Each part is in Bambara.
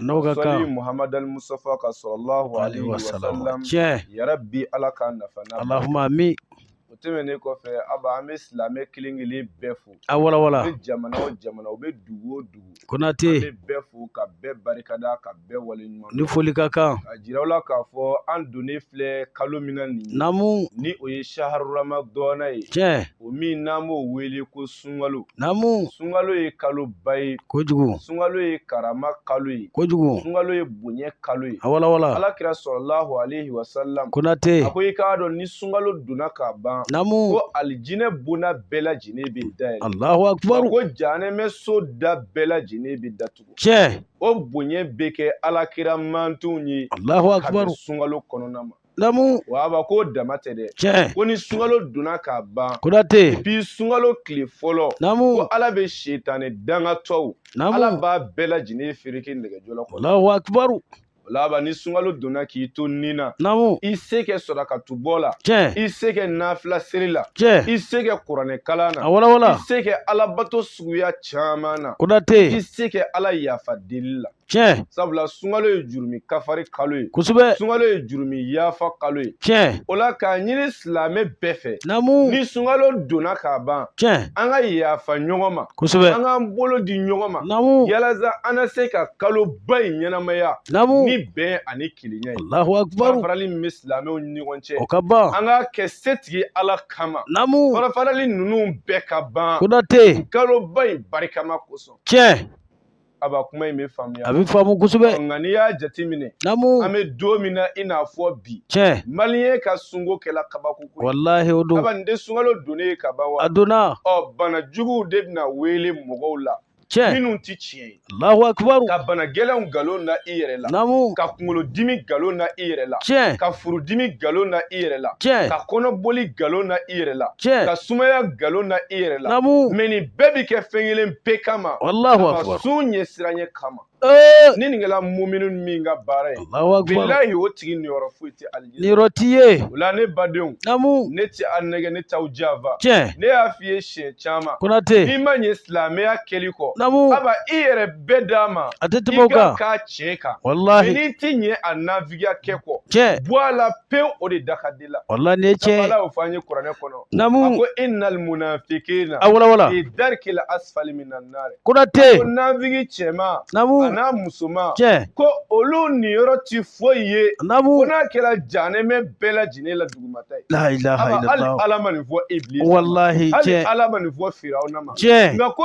n'aw ka kan sɔli muhamadu musutafa kan salalahu alayhi wa sallam tiɲɛ ya rabi ala k'an nafa n'a alahuma amin o tɛmɛnen kɔfɛ aba an bɛ silamɛ kelen kelen bɛɛ fo a wala wala u bɛ jamana o jamana u bɛ dugu o dugu konate an bɛ bɛɛ fo ka bɛɛ barikada ka bɛɛ wale ɲuman ni foli ka kan ka jira aw la k'a fɔ an donnen filɛ kalo min na nin namu ni o ye saharu ramadɔna ye tiɲɛ o min n'an b'o wele ko sunkalo naamu sunkalo ye kalo ba ye kojugu sunkalo ye karama kalo ye kojugu sunkalo ye bonya kalo ye a walawala ala kira salalahu alehi wasalam konate a ko i k'a dɔn ni sunkalo donna ka ban naamu ko alijinɛ bonna bɛɛ lajɛlen bɛ dayɛlɛ alahu akibaru ko janɛmɛ so da bɛɛ lajɛlen bɛ datugu tiɲɛ o bonya bɛ kɛ ala kira mantonw ye alahu akibaru sunkalo kɔnɔna ma namu wa aba k'o dama tɛ dɛ tiɲɛ ko ni sunkalo donna ka ban konate bi sunkalo tile fɔlɔ namu ko ala bɛ setani dangatɔw namu ala b'a bɛɛ lajɛlen fereke nɛgɛ jɔlɔkɔ la Allahu akibaru o la aba ni sunkalo donna k'i to nin na namu i se kɛ sarakatu bɔ la tiɲɛ i se kɛ nafila seli la tiɲɛ i se kɛ kuranɛ kalan na a wala wala i se kɛ alabato suguya caman na konate i se kɛ ala yafa deli la tiɲɛ sabula sunkalo ye jurumi kafari kalo ye kosɛbɛ sunkalo ye jurumi yafa kalo ye tiɲɛ o la k'a ɲini silamɛ bɛɛ fɛ namu ni sunkalo donna ka ban tiɲɛ an ka yafa ɲɔgɔn ma kosɛbɛ an k'an bolo di ɲɔgɔn ma namu yalasa an na se ka kalo ba in ɲɛnamaya namu ni bɛn ani kelenya ye alahu akibaru farafarali min bɛ silamɛw ni ɲɔgɔn cɛ o ka ban an k'a kɛ setigi ala kama namu farafarali ninnu bɛɛ ka ban konate kalo ba in barikama kosɔn tiɲɛ aba kuma in bɛ faamuya a bɛ faamu kosɛbɛ nka n'i y'a jateminɛ namu an bɛ don min na i n'a fɔ bi tiɲɛ maliyɛn ka sunko kɛla kabako ko ye walahi o don aba nin tɛ sunkalo donnen ye ka ban wa a donna ɔ bana juguw de bɛna wuli mɔgɔw la tiɲɛ minnu tɛ tiɲɛ ye alahu akibaru ka bana gɛlɛnw nkalon na i yɛrɛ la namu ka kunkolodimi nkalon na i yɛrɛ la tiɲɛ ka furudimi nkalon na i yɛrɛ la tiɲɛ ka kɔnɔboli nkalon na i yɛrɛ la tiɲɛ ka sumaya nkalon na i yɛrɛ la namu mɛ nin bɛɛ bi kɛ fɛn kelen pe kama Allahu akbar. sun ɲɛsiranya kama Ee, ni nin kɛla mumini min ka baara ye Allahu akbar. bilahi o tigi niyɔrɔ foyi tɛ alijinɛ Niyɔrɔ t'i ye. o la ne badenw Namu. ne tɛ a nɛgɛ ne t'aw janfa Tiɲɛ. ne y'a f'i ye siɲɛ caman Konate. n'i ma ɲɛ silamɛya kɛli kɔ Namu. aba i yɛrɛ bɛɛ d'a ma A tɛ tɛmɛ o kan. i k'a k'a tiɲɛ kan Walahi. n'i ti ɲɛ a nafigiya kɛ kɔ Tiɲɛ. bɔ a la pewu o de da ka di la walahi nin ye tiɲɛ ala y'a f'an ye kuranɛ kɔnɔ namu ko innal munafiqina a wala wala fi darkil asfali minan nar konate ko nafigi cɛman namu an'a musoman tiɲɛ ko olu niyɔrɔ ti foyi ye namu ko n'a kɛra janɛmɛ bɛɛ lajɛlen la dugumata ye la ilaha illallah ala ma nin fɔ iblis wallahi tiɲɛ ala ma nin fɔ firawuna ma tiɲɛ nka ko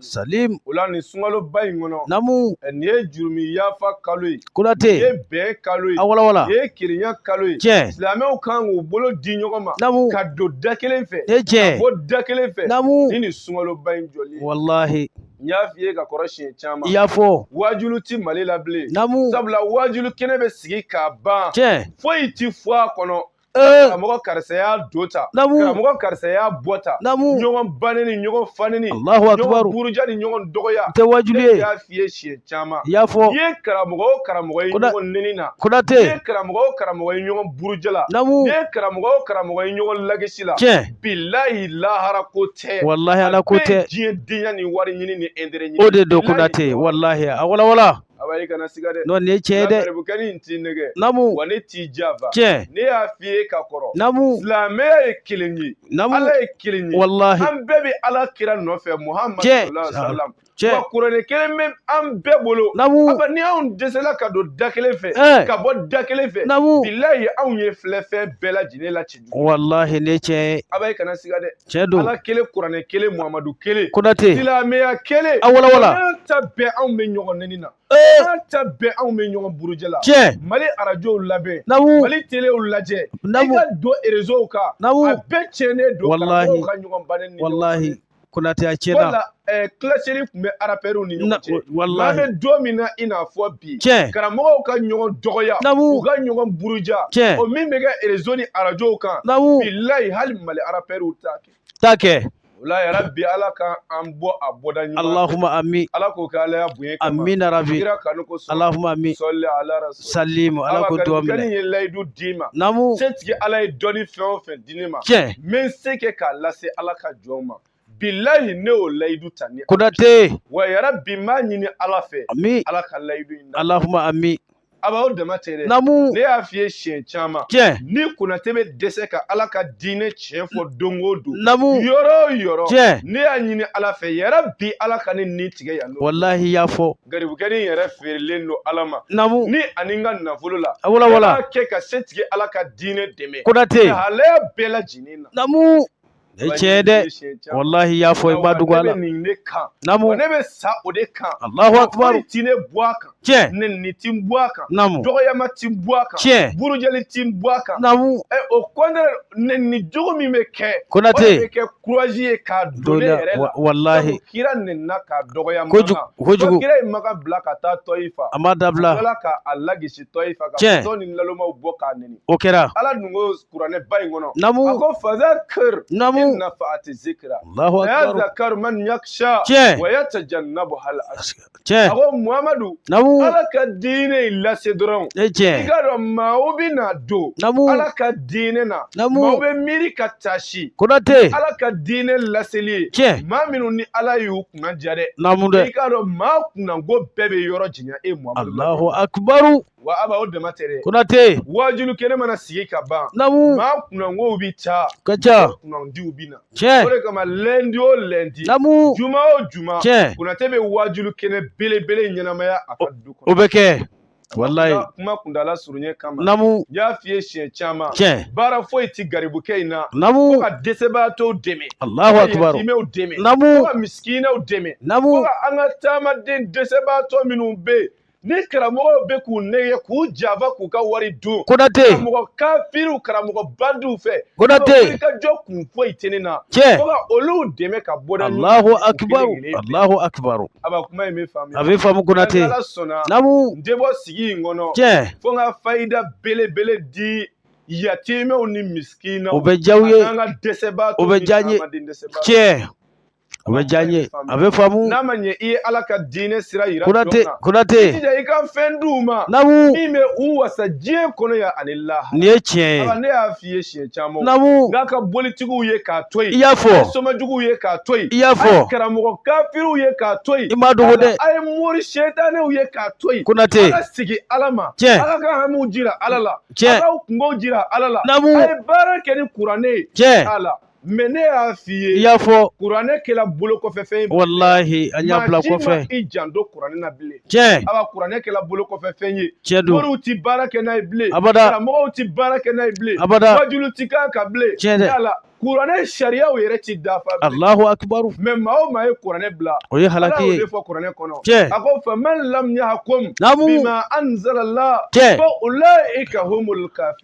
Salim o la nin sunkaloba in kɔnɔ namu nin ye jurumi yafa kalo ye Konate nin ye bɛn kalo ye a walawala nin ye kelenya kalo ye tiɲɛ silamɛw kan k'u bolo di ɲɔgɔn ma namu ka don da kelen fɛ tiɲɛ ka bɔ da kelen fɛ namu ni nin sunkaloba in jɔli walahi n y'a f'i ye ka kɔrɔ siɲɛ caman i y'a fɔ waajulu ti mali la bilen namu sabula waajulu kɛnɛ bɛ sigi k'a ban tiɲɛ foyi ti fɔ a kɔnɔ Eh. karamɔgɔ karisa y'a do ta karamɔgɔ karisa y'a bɔ ta ɲɔgɔn banni ni ɲɔgɔn fanni ni ɲɔgɔn buruja ni ɲɔgɔn dɔgɔya tɛ waajulu ye ne y'a f'i ye siɲɛ caman i y'a fɔ i ye karamɔgɔ o karamɔgɔ ye ɲɔgɔn nɛni na konate i ye karamɔgɔ o karamɔgɔ ye ɲɔgɔn buruja la i ye karamɔgɔ o karamɔgɔ ye ɲɔgɔn lagisi la tiɲɛ bilahi lahara ko tɛ walahi ala ko tɛ diɲɛ denya ni wari ɲini ni ɛntere ɲini o de don konate walahi a walawala Aba i kana siga dɛ nin ye tiɲɛ ye dɛ garibukɛnin t'i nɛgɛn wa ne t'i janfa tiɲɛ ne y'a f'i ye ka kɔrɔ silamɛya ye kelen ye ala ye kelen ye wala an bɛɛ bɛ ala kira nɔfɛ muhamadu wa kuranɛ kelen bɛ an bɛɛ bolo aba ni anw dɛsɛla ka don da kelen fɛ ka bɔ da kelen fɛ bilayi anw ye filɛfɛn bɛɛ lajɛlen la ten walahi ne cɛ aba i kana siga dɛ tiɲɛ don ala kelen kuranɛ kelen muhamadu kelen konate silamɛya kelen a walawala an ta bɛn anw bɛ ɲɔgɔn nɛni na an ta bɛn anw bɛ ɲɔgɔn buruja la tiɲɛ mali arajow lamɛn namu mali telew lajɛ namu i ka don erezow kan namu a bɛɛ tiɲɛnen don karamɔgɔw ka ɲɔgɔn ban walahi Konate a tiɲɛna wala ɛɛ kilaseli tun bɛ arapɛriw ni ɲɔgɔn cɛ walahi n'an bɛ don min na i n'a fɔ bi tiɲɛ karamɔgɔw ka ɲɔgɔn dɔgɔya namu u ka ɲɔgɔn buruja tiɲɛ o min bɛ kɛ erezo ni arajow kan namu bilayi hali mali arapɛriw t'a kɛ t'a kɛ wala yarabi ala ka an bɔ a bɔda ɲuman alahuma ami ala k'o kɛ ala bonya kama amin yarabi kira kanu kosɔn alahuma ami sali ala rasul salimu ala k'o duwawu minɛ ala ka kɛ n ye layidu d'i ma namu setigi ala ye dɔnni fɛn o fɛn di ne ma tiɲɛ n bɛ n se kɛ k'a lase ala ka jɔnw ma bilahi ne y'o layidu ta ni konate wa yarabi n b'a ɲini ala fɛ ami ala ka layidu in na alahuma ami aba o dama tɛ dɛ namu ne y'a f'i ye siɲɛ caman tiɲɛ ni konate bɛ dɛsɛ ka ala ka diinɛ tiɲɛ fɔ don o don namu yɔrɔ o yɔrɔ tiɲɛ ne y'a ɲini ala fɛ yarabi ala ka ne ni tigɛ yan nɔ walahi y'a fɔ garibukɛnin yɛrɛ feerelen don ala ma namu ni ani n ka nafolo la walawala b'a kɛ ka setigi ala ka diinɛ dɛmɛ konate halaya bɛɛ lajɛlen na namu ne cɛ dɛ walahi y'a fɔ i ma dugu ala nin ne kan namu ne bɛ sa o de kan alahu akubaru ti ne bɔ a kan tiɲɛ nɛni ti bɔ a kan namu dɔgɔyama ti bɔ a kan tiɲɛ burujali ti bɔ a kan namu ɛ o kɔni nɛni jugu min bɛ kɛ konate kurazi ye k'a don ne yɛrɛ la walahi kira nɛnina k'a dɔgɔya kojugu kojugu kira ye makan bila ka taa tɔyifa a ma dabila ala ka a lagosi tɔyifa ka fatɔw ni nalomaw bɔ k'a nɛni o kɛra ala dun ko kuranɛ ba in kɔnɔ namu a ko fazakir namu nafa'ati zikira allahu akbar yazakar man yaksha tiɲɛ wa yatajannabuhal asika tiɲɛ a ko muhamadu namu ala ka diinɛ in lase dɔrɔn e tiɲɛ i k'a dɔn maaw bɛ na don namu ala ka diinɛ na namu maaw bɛ miiri ka taasi konate ala ka diinɛ laseli ye tiɲɛ maa minnu ni ala y'u kunnadiya dɛ namu dɛ i k'a dɔn maa kunnango bɛɛ bɛ yɔrɔ janya e muhamadu alahu akubaru wa aba o dama tɛ dɛ konate waajulu kɛnɛ mana sigi ka ban namu maa kunnangow bi taa ka taa kunnandiw bi na tiɲɛ o de kama lɛndi o lɛndi namu juma o juma tiɲɛ konate bɛ waajulu kɛnɛ belebele ɲɛnamaya a ka du kɔnɔ o bɛ kɛ walayi kuma kundala surunya kama namu y'a f'i ye siɲɛ caman tiɲɛ baara foyi ti garibukɛ in na namu fo ka dɛsɛbaatɔw dɛmɛ alahu akibaru yatimɛw dɛmɛ namu fo ka misikinɛw dɛmɛ namu an ka taamaden dɛsɛbaatɔ minnu bɛ yen ni karamɔgɔw bɛ k'u nɛgɛ k'u janfa k'u ka wari dun konate karamɔgɔ kafiriw karamɔgɔ bandiw fɛ konate i ka jɔkun foyi tɛ ne na tiɲɛ fo ka olu dɛmɛ ka bɔ da alahu akibaru alahu akibaru aba kuma in bɛ faamuya a bɛ faamu konate ala sɔnna namu n tɛ bɔ sigi in kɔnɔ tiɲɛ fo n ka fayida belebele di yatimɛw ni misikinaw o bɛ diya u ye an ka dɛsɛbaatɔw o bɛ diya n ye tiɲɛ a bɛ diya n ye a bɛ faamu n'a ma ɲɛ i ye ala ka diinɛ sira yira konate konate jija i ka fɛn d'u ma namu min bɛ u wasa diɲɛ kɔnɔ yan ani lahara nin ye tiɲɛ ye ne y'a f'i ye siɲɛ caman namu n'a ka bolitigiw ye k'a to yen i y'a fɔ somajuguw ye k'a to yen i y'a fɔ karamɔgɔ kafiriw ye k'a to yen i m'a dogo dɛ a ye mori sɛtanɛw ye k'a to yen konate a ka sigi ala ma tiɲɛ a k'a ka hamiw jira ala la tiɲɛ a k'a kungow jira ala la namu a ye baara kɛ ni kuranɛ ye tiɲɛ ala mɛ ne y'a f'i ye i y'a fɔ kuranɛ kɛla bolo kɔfɛ fɛn ye walahi an y'a bila kɔfɛ i janto kuranɛ na bilen tiɲɛ aba kuranɛ kɛla bolo kɔfɛ fɛn ye tiɲɛ don moriw ti baara kɛ n'a ye bilen abada karamɔgɔw ti baara kɛ n'a ye bilen abada wajulu ti k'a kan bilen tiɲɛ dɛ yala kuranɛ sariyaw yɛrɛ ti dafa bilen alahu akibaru mɛ maa o maa ye kuranɛ bila o ye halaki ye ala y'o de fɔ kuranɛ kɔnɔ tiɲɛ a ko faman lam yahkum bima anzalallah tiɲɛ fa ulaika humul kafir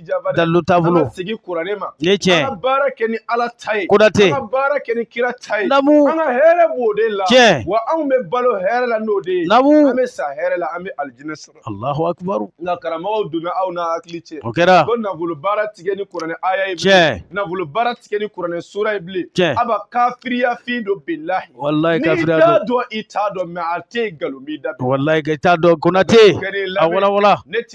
dalu taabolo sigi kuranɛ ma ne tiɲɛ an ka baara kɛ ni ala ta ye konate an ka baara kɛ ni kira ta ye namu an ka hɛrɛ b'o de la tiɲɛ wa anw bɛ balo hɛrɛ la n'o de ye namu an bɛ sa hɛrɛ la an bɛ alijinɛ sɔrɔ alahu akibaru nka karamɔgɔw donna aw n'a hakili cɛ o kɛra ko nafolo baara ti kɛ ni kuranɛ aya ye tiɲɛ nafolo baara ti kɛ ni kuranɛ sura ye bilen tiɲɛ aba kafiriya fin don bilahi walayi kafiriya don n'i t'a dɔn i t'a dɔn mɛ a tɛ nkalon b'i da walayi i t'a dɔn konate a wala wala ne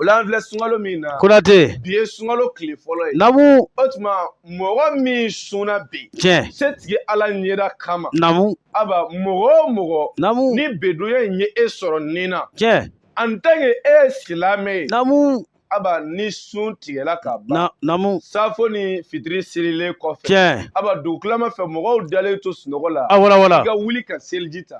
O la an filɛ sunkalo min na. Konate. Bi ye sunkalo tile fɔlɔ ye. Namu. O tuma mɔgɔ min sunna bi. Tiɲɛ. Se tigi ala ɲɛda kama. Namu. Aba mɔgɔ o mɔgɔ. Namu. Ni bedoya in ye e sɔrɔ nin na. Tiɲɛ. En tant que e ye silamɛ ye. Namu. Aba ni sun tigɛla ka ban. Namu. Safo ni fitiri selilen kɔfɛ. Tiɲɛ. Aba dugutilama fɛ mɔgɔw dalen to sunɔgɔ la. A wala wala. I ka wuli ka seliji ta.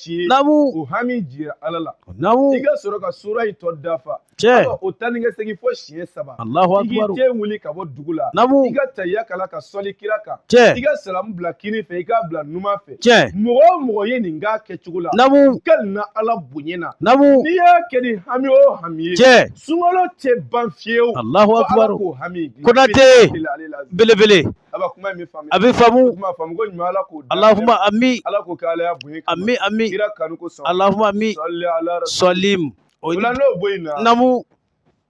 ci o hami jira ala la i ka sɔrɔ ka sura in tɔ dafa o taa ni ka segin fo siɲɛ saba i k'i ten wuli ka bɔ dugu la i ka tahiya kalan ka sɔli kira kan i ka salamu bila kini fɛ i k'a bila numan fɛ mɔgɔ o mɔgɔ ye nin k'a kɛcogo la ka na ala bonya na n'i y'a kɛ ni hami o hami ye sunkalo tɛ ban fiyewu fo ala k'o hami dilan konate belebele a bɛ faamu alahuma ami ami ami alahuma ami sɔlim o namu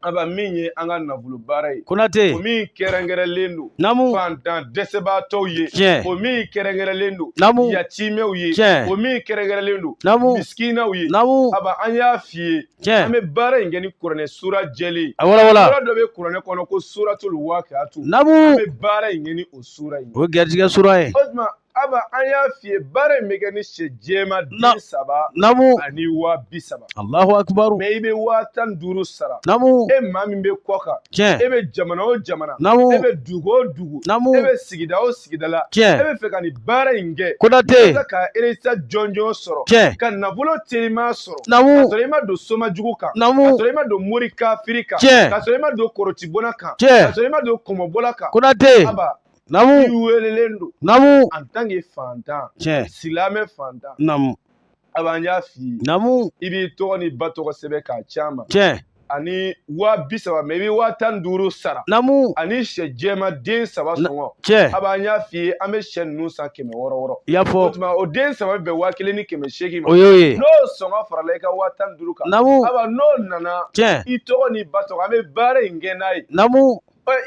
aba min ye an ka nafolo baara ye konatɛ o min kɛrɛnkɛrɛnlen don namu fantan dɛsɛbaatɔw ye tiɲɛ o min kɛrɛnkɛrɛnlen don namu yatimɛw ye tiɲɛ o min kɛrɛnkɛrɛnlen don namu misikinaw ye namu aba an y'a f'i ye Tiɲɛ. An bɛ baara in kɛ ni kuranɛ sura jɛlen ye. A wala wala. Sura dɔ bɛ kuranɛ kɔnɔ ko suratul waqiatu. Namu. An bɛ baara in kɛ ni o sura in ye. O garijigɛ sura ye. O tuma Aba an y'a f'i ye baara in bɛ kɛ ni sɛ jɛma den saba. Namu. Ani waa bi saba. Alahu akibaru. Mɛ i bɛ waa tan ni duuru sara. Namu. E maa min bɛ kɔ kan. Tiɲɛ. E bɛ jamana o jamana. Namu. E bɛ dugu o dugu. Namu. E bɛ sigida o sigida la tiɲɛ e bɛ fɛ ka nin baara in kɛ Konate walasa ka résultat jɔnjɔn sɔrɔ tiɲɛ ka nafolo teliman sɔrɔ namu ka sɔrɔ i ma don soma jugu kan namu ka sɔrɔ i ma don mori kafiri kan tiɲɛ ka sɔrɔ i ma don kɔrɔtibonna kan tiɲɛ ka sɔrɔ i ma don kɔmɔbɔla kan Konate aba namu i welelen don namu en tant que fantan tiɲɛ silamɛ fantan namu Aba an y'a f'i ye namu i b'i tɔgɔ ni ba tɔgɔ sɛbɛn k'a ci an ma tiɲɛ ani waa bi saba mɛ i bɛ waa tan ni duuru sara namu ani sɛ jɛma den saba sɔngɔ tiɲɛ aba an y'a f'i ye an bɛ sɛ ninnu san kɛmɛ wɔɔrɔ wɔɔrɔ i y'a fɔ o tuma o den saba bɛ bɛn waa kelen ni kɛmɛ seegin ma o y'o ye n'o sɔngɔ farala i ka waa tan ni duuru kan namu aba n'o nana tiɲɛ i tɔgɔ ni ba tɔgɔ an bɛ baara in kɛ n'a ye namu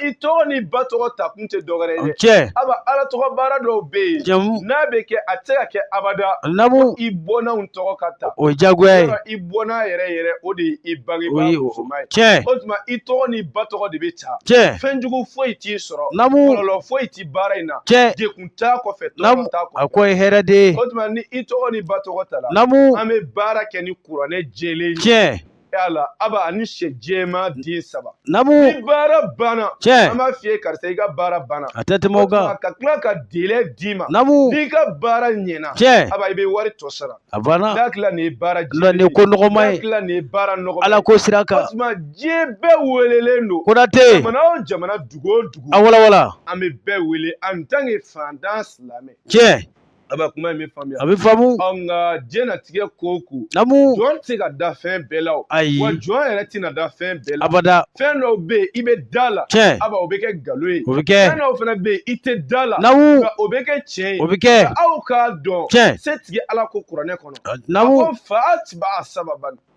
i tɔgɔ ni ba tɔgɔ ta kun tɛ dɔwɛrɛ ye cɛ aba ala tɔgɔ baara dɔw bɛ yen jamu n'a bɛ kɛ a tɛ se ka kɛ abada namu i bɔnnaw tɔgɔ ka ta o ye jagoya ye i bɔnna yɛrɛ yɛrɛ o de ye i bangebaa musoman ye cɛ o tuma i tɔgɔ ni ba tɔgɔ de bɛ ta cɛ fɛn jugu foyi t'i sɔrɔ namu kɔlɔlɔ foyi tɛ baara in na cɛ degun t'a kɔfɛ namu tɔɔrɔ t'a kɔfɛ a ko ye hɛrɛ de ye o tuma ni i tɔgɔ ni ba tɔgɔ tala namu an bɛ baara kɛ ni kuranɛ jɛlen ye cɛ yala aba ani syɛ jɛman den saba namu ni baara banna tiɲɛ an b'a f'i ye karisa i ka baara banna a tɛ tɛmɛ o kan ka tila ka délai d'i ma namu n'i ka baara ɲɛna tiɲɛ aba i bɛ wari tɔ sara a banna n'a tila nin ye baara jɛlen ye nin ko nɔgɔma ye n'a tila nin ye baara nɔgɔma ala ko sira kan tuma diɲɛ bɛɛ welelen don konate jamana o jamana dugu o dugu a walawala an bɛ bɛɛ wele en tant que fantan silamɛ tiɲɛ Aba kuma in bɛ faamuya a bɛ faamu nka diɲɛlatigɛ ko o ko namu jɔn tɛ se ka da fɛn bɛɛ la ayi wa jɔn yɛrɛ tɛna da fɛn bɛɛ la abada fɛn dɔw bɛ yen i bɛ da la tiɲɛ aba o bɛ kɛ nkalon ye o bɛ kɛ fɛn dɔw fana bɛ yen i tɛ da la namu o bɛ kɛ tiɲɛ ye o bɛ kɛ aw k'a dɔn tiɲɛ setigi ala ko kuranɛ kɔnɔ namu fa atiba a sababan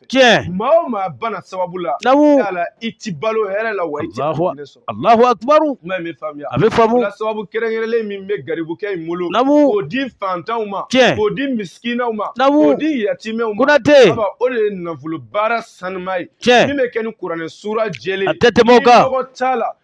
fɛ tiɲɛ maa o maa bana sababu la Namu. yala i ti balo hɛrɛ la wa i ti Ala ka hinɛ sɔrɔ alahu akubaru kuma in bɛ faamuya a bɛ faamu la sababu kɛrɛnkɛrɛnlen min bɛ garibukɛ in bolo Namu. k'o di fantanw ma Tiɲɛ. k'o di misikinaw ma Namu. k'o di yatimɛw ma konate aba, o de ye nafolo baara sanuma ye tiɲɛ min bɛ kɛ ni kuranɛ suura jɛlen a tɛ tɛmɛ o kan nɔgɔ t'a la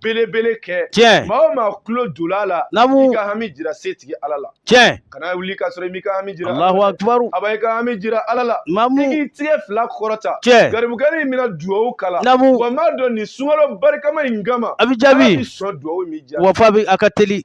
belebele kɛ tiɲɛ maa o maa tulo donna a la namu i ka hami jira setigi ala la tiɲɛ kana wuli ka sɔrɔ i m'i ka hami jira alahu akibaru aba i ka hami jira ala la namu i k'i tigɛ fila kɔrɔta tiɲɛ garibukɛnin in bɛna duwawu k'a la namu wa m'a dɔn nin sunkalo barikama in kama a bɛ jaabi sɔn duwawu min jaabi wa fa bɛ a ka teli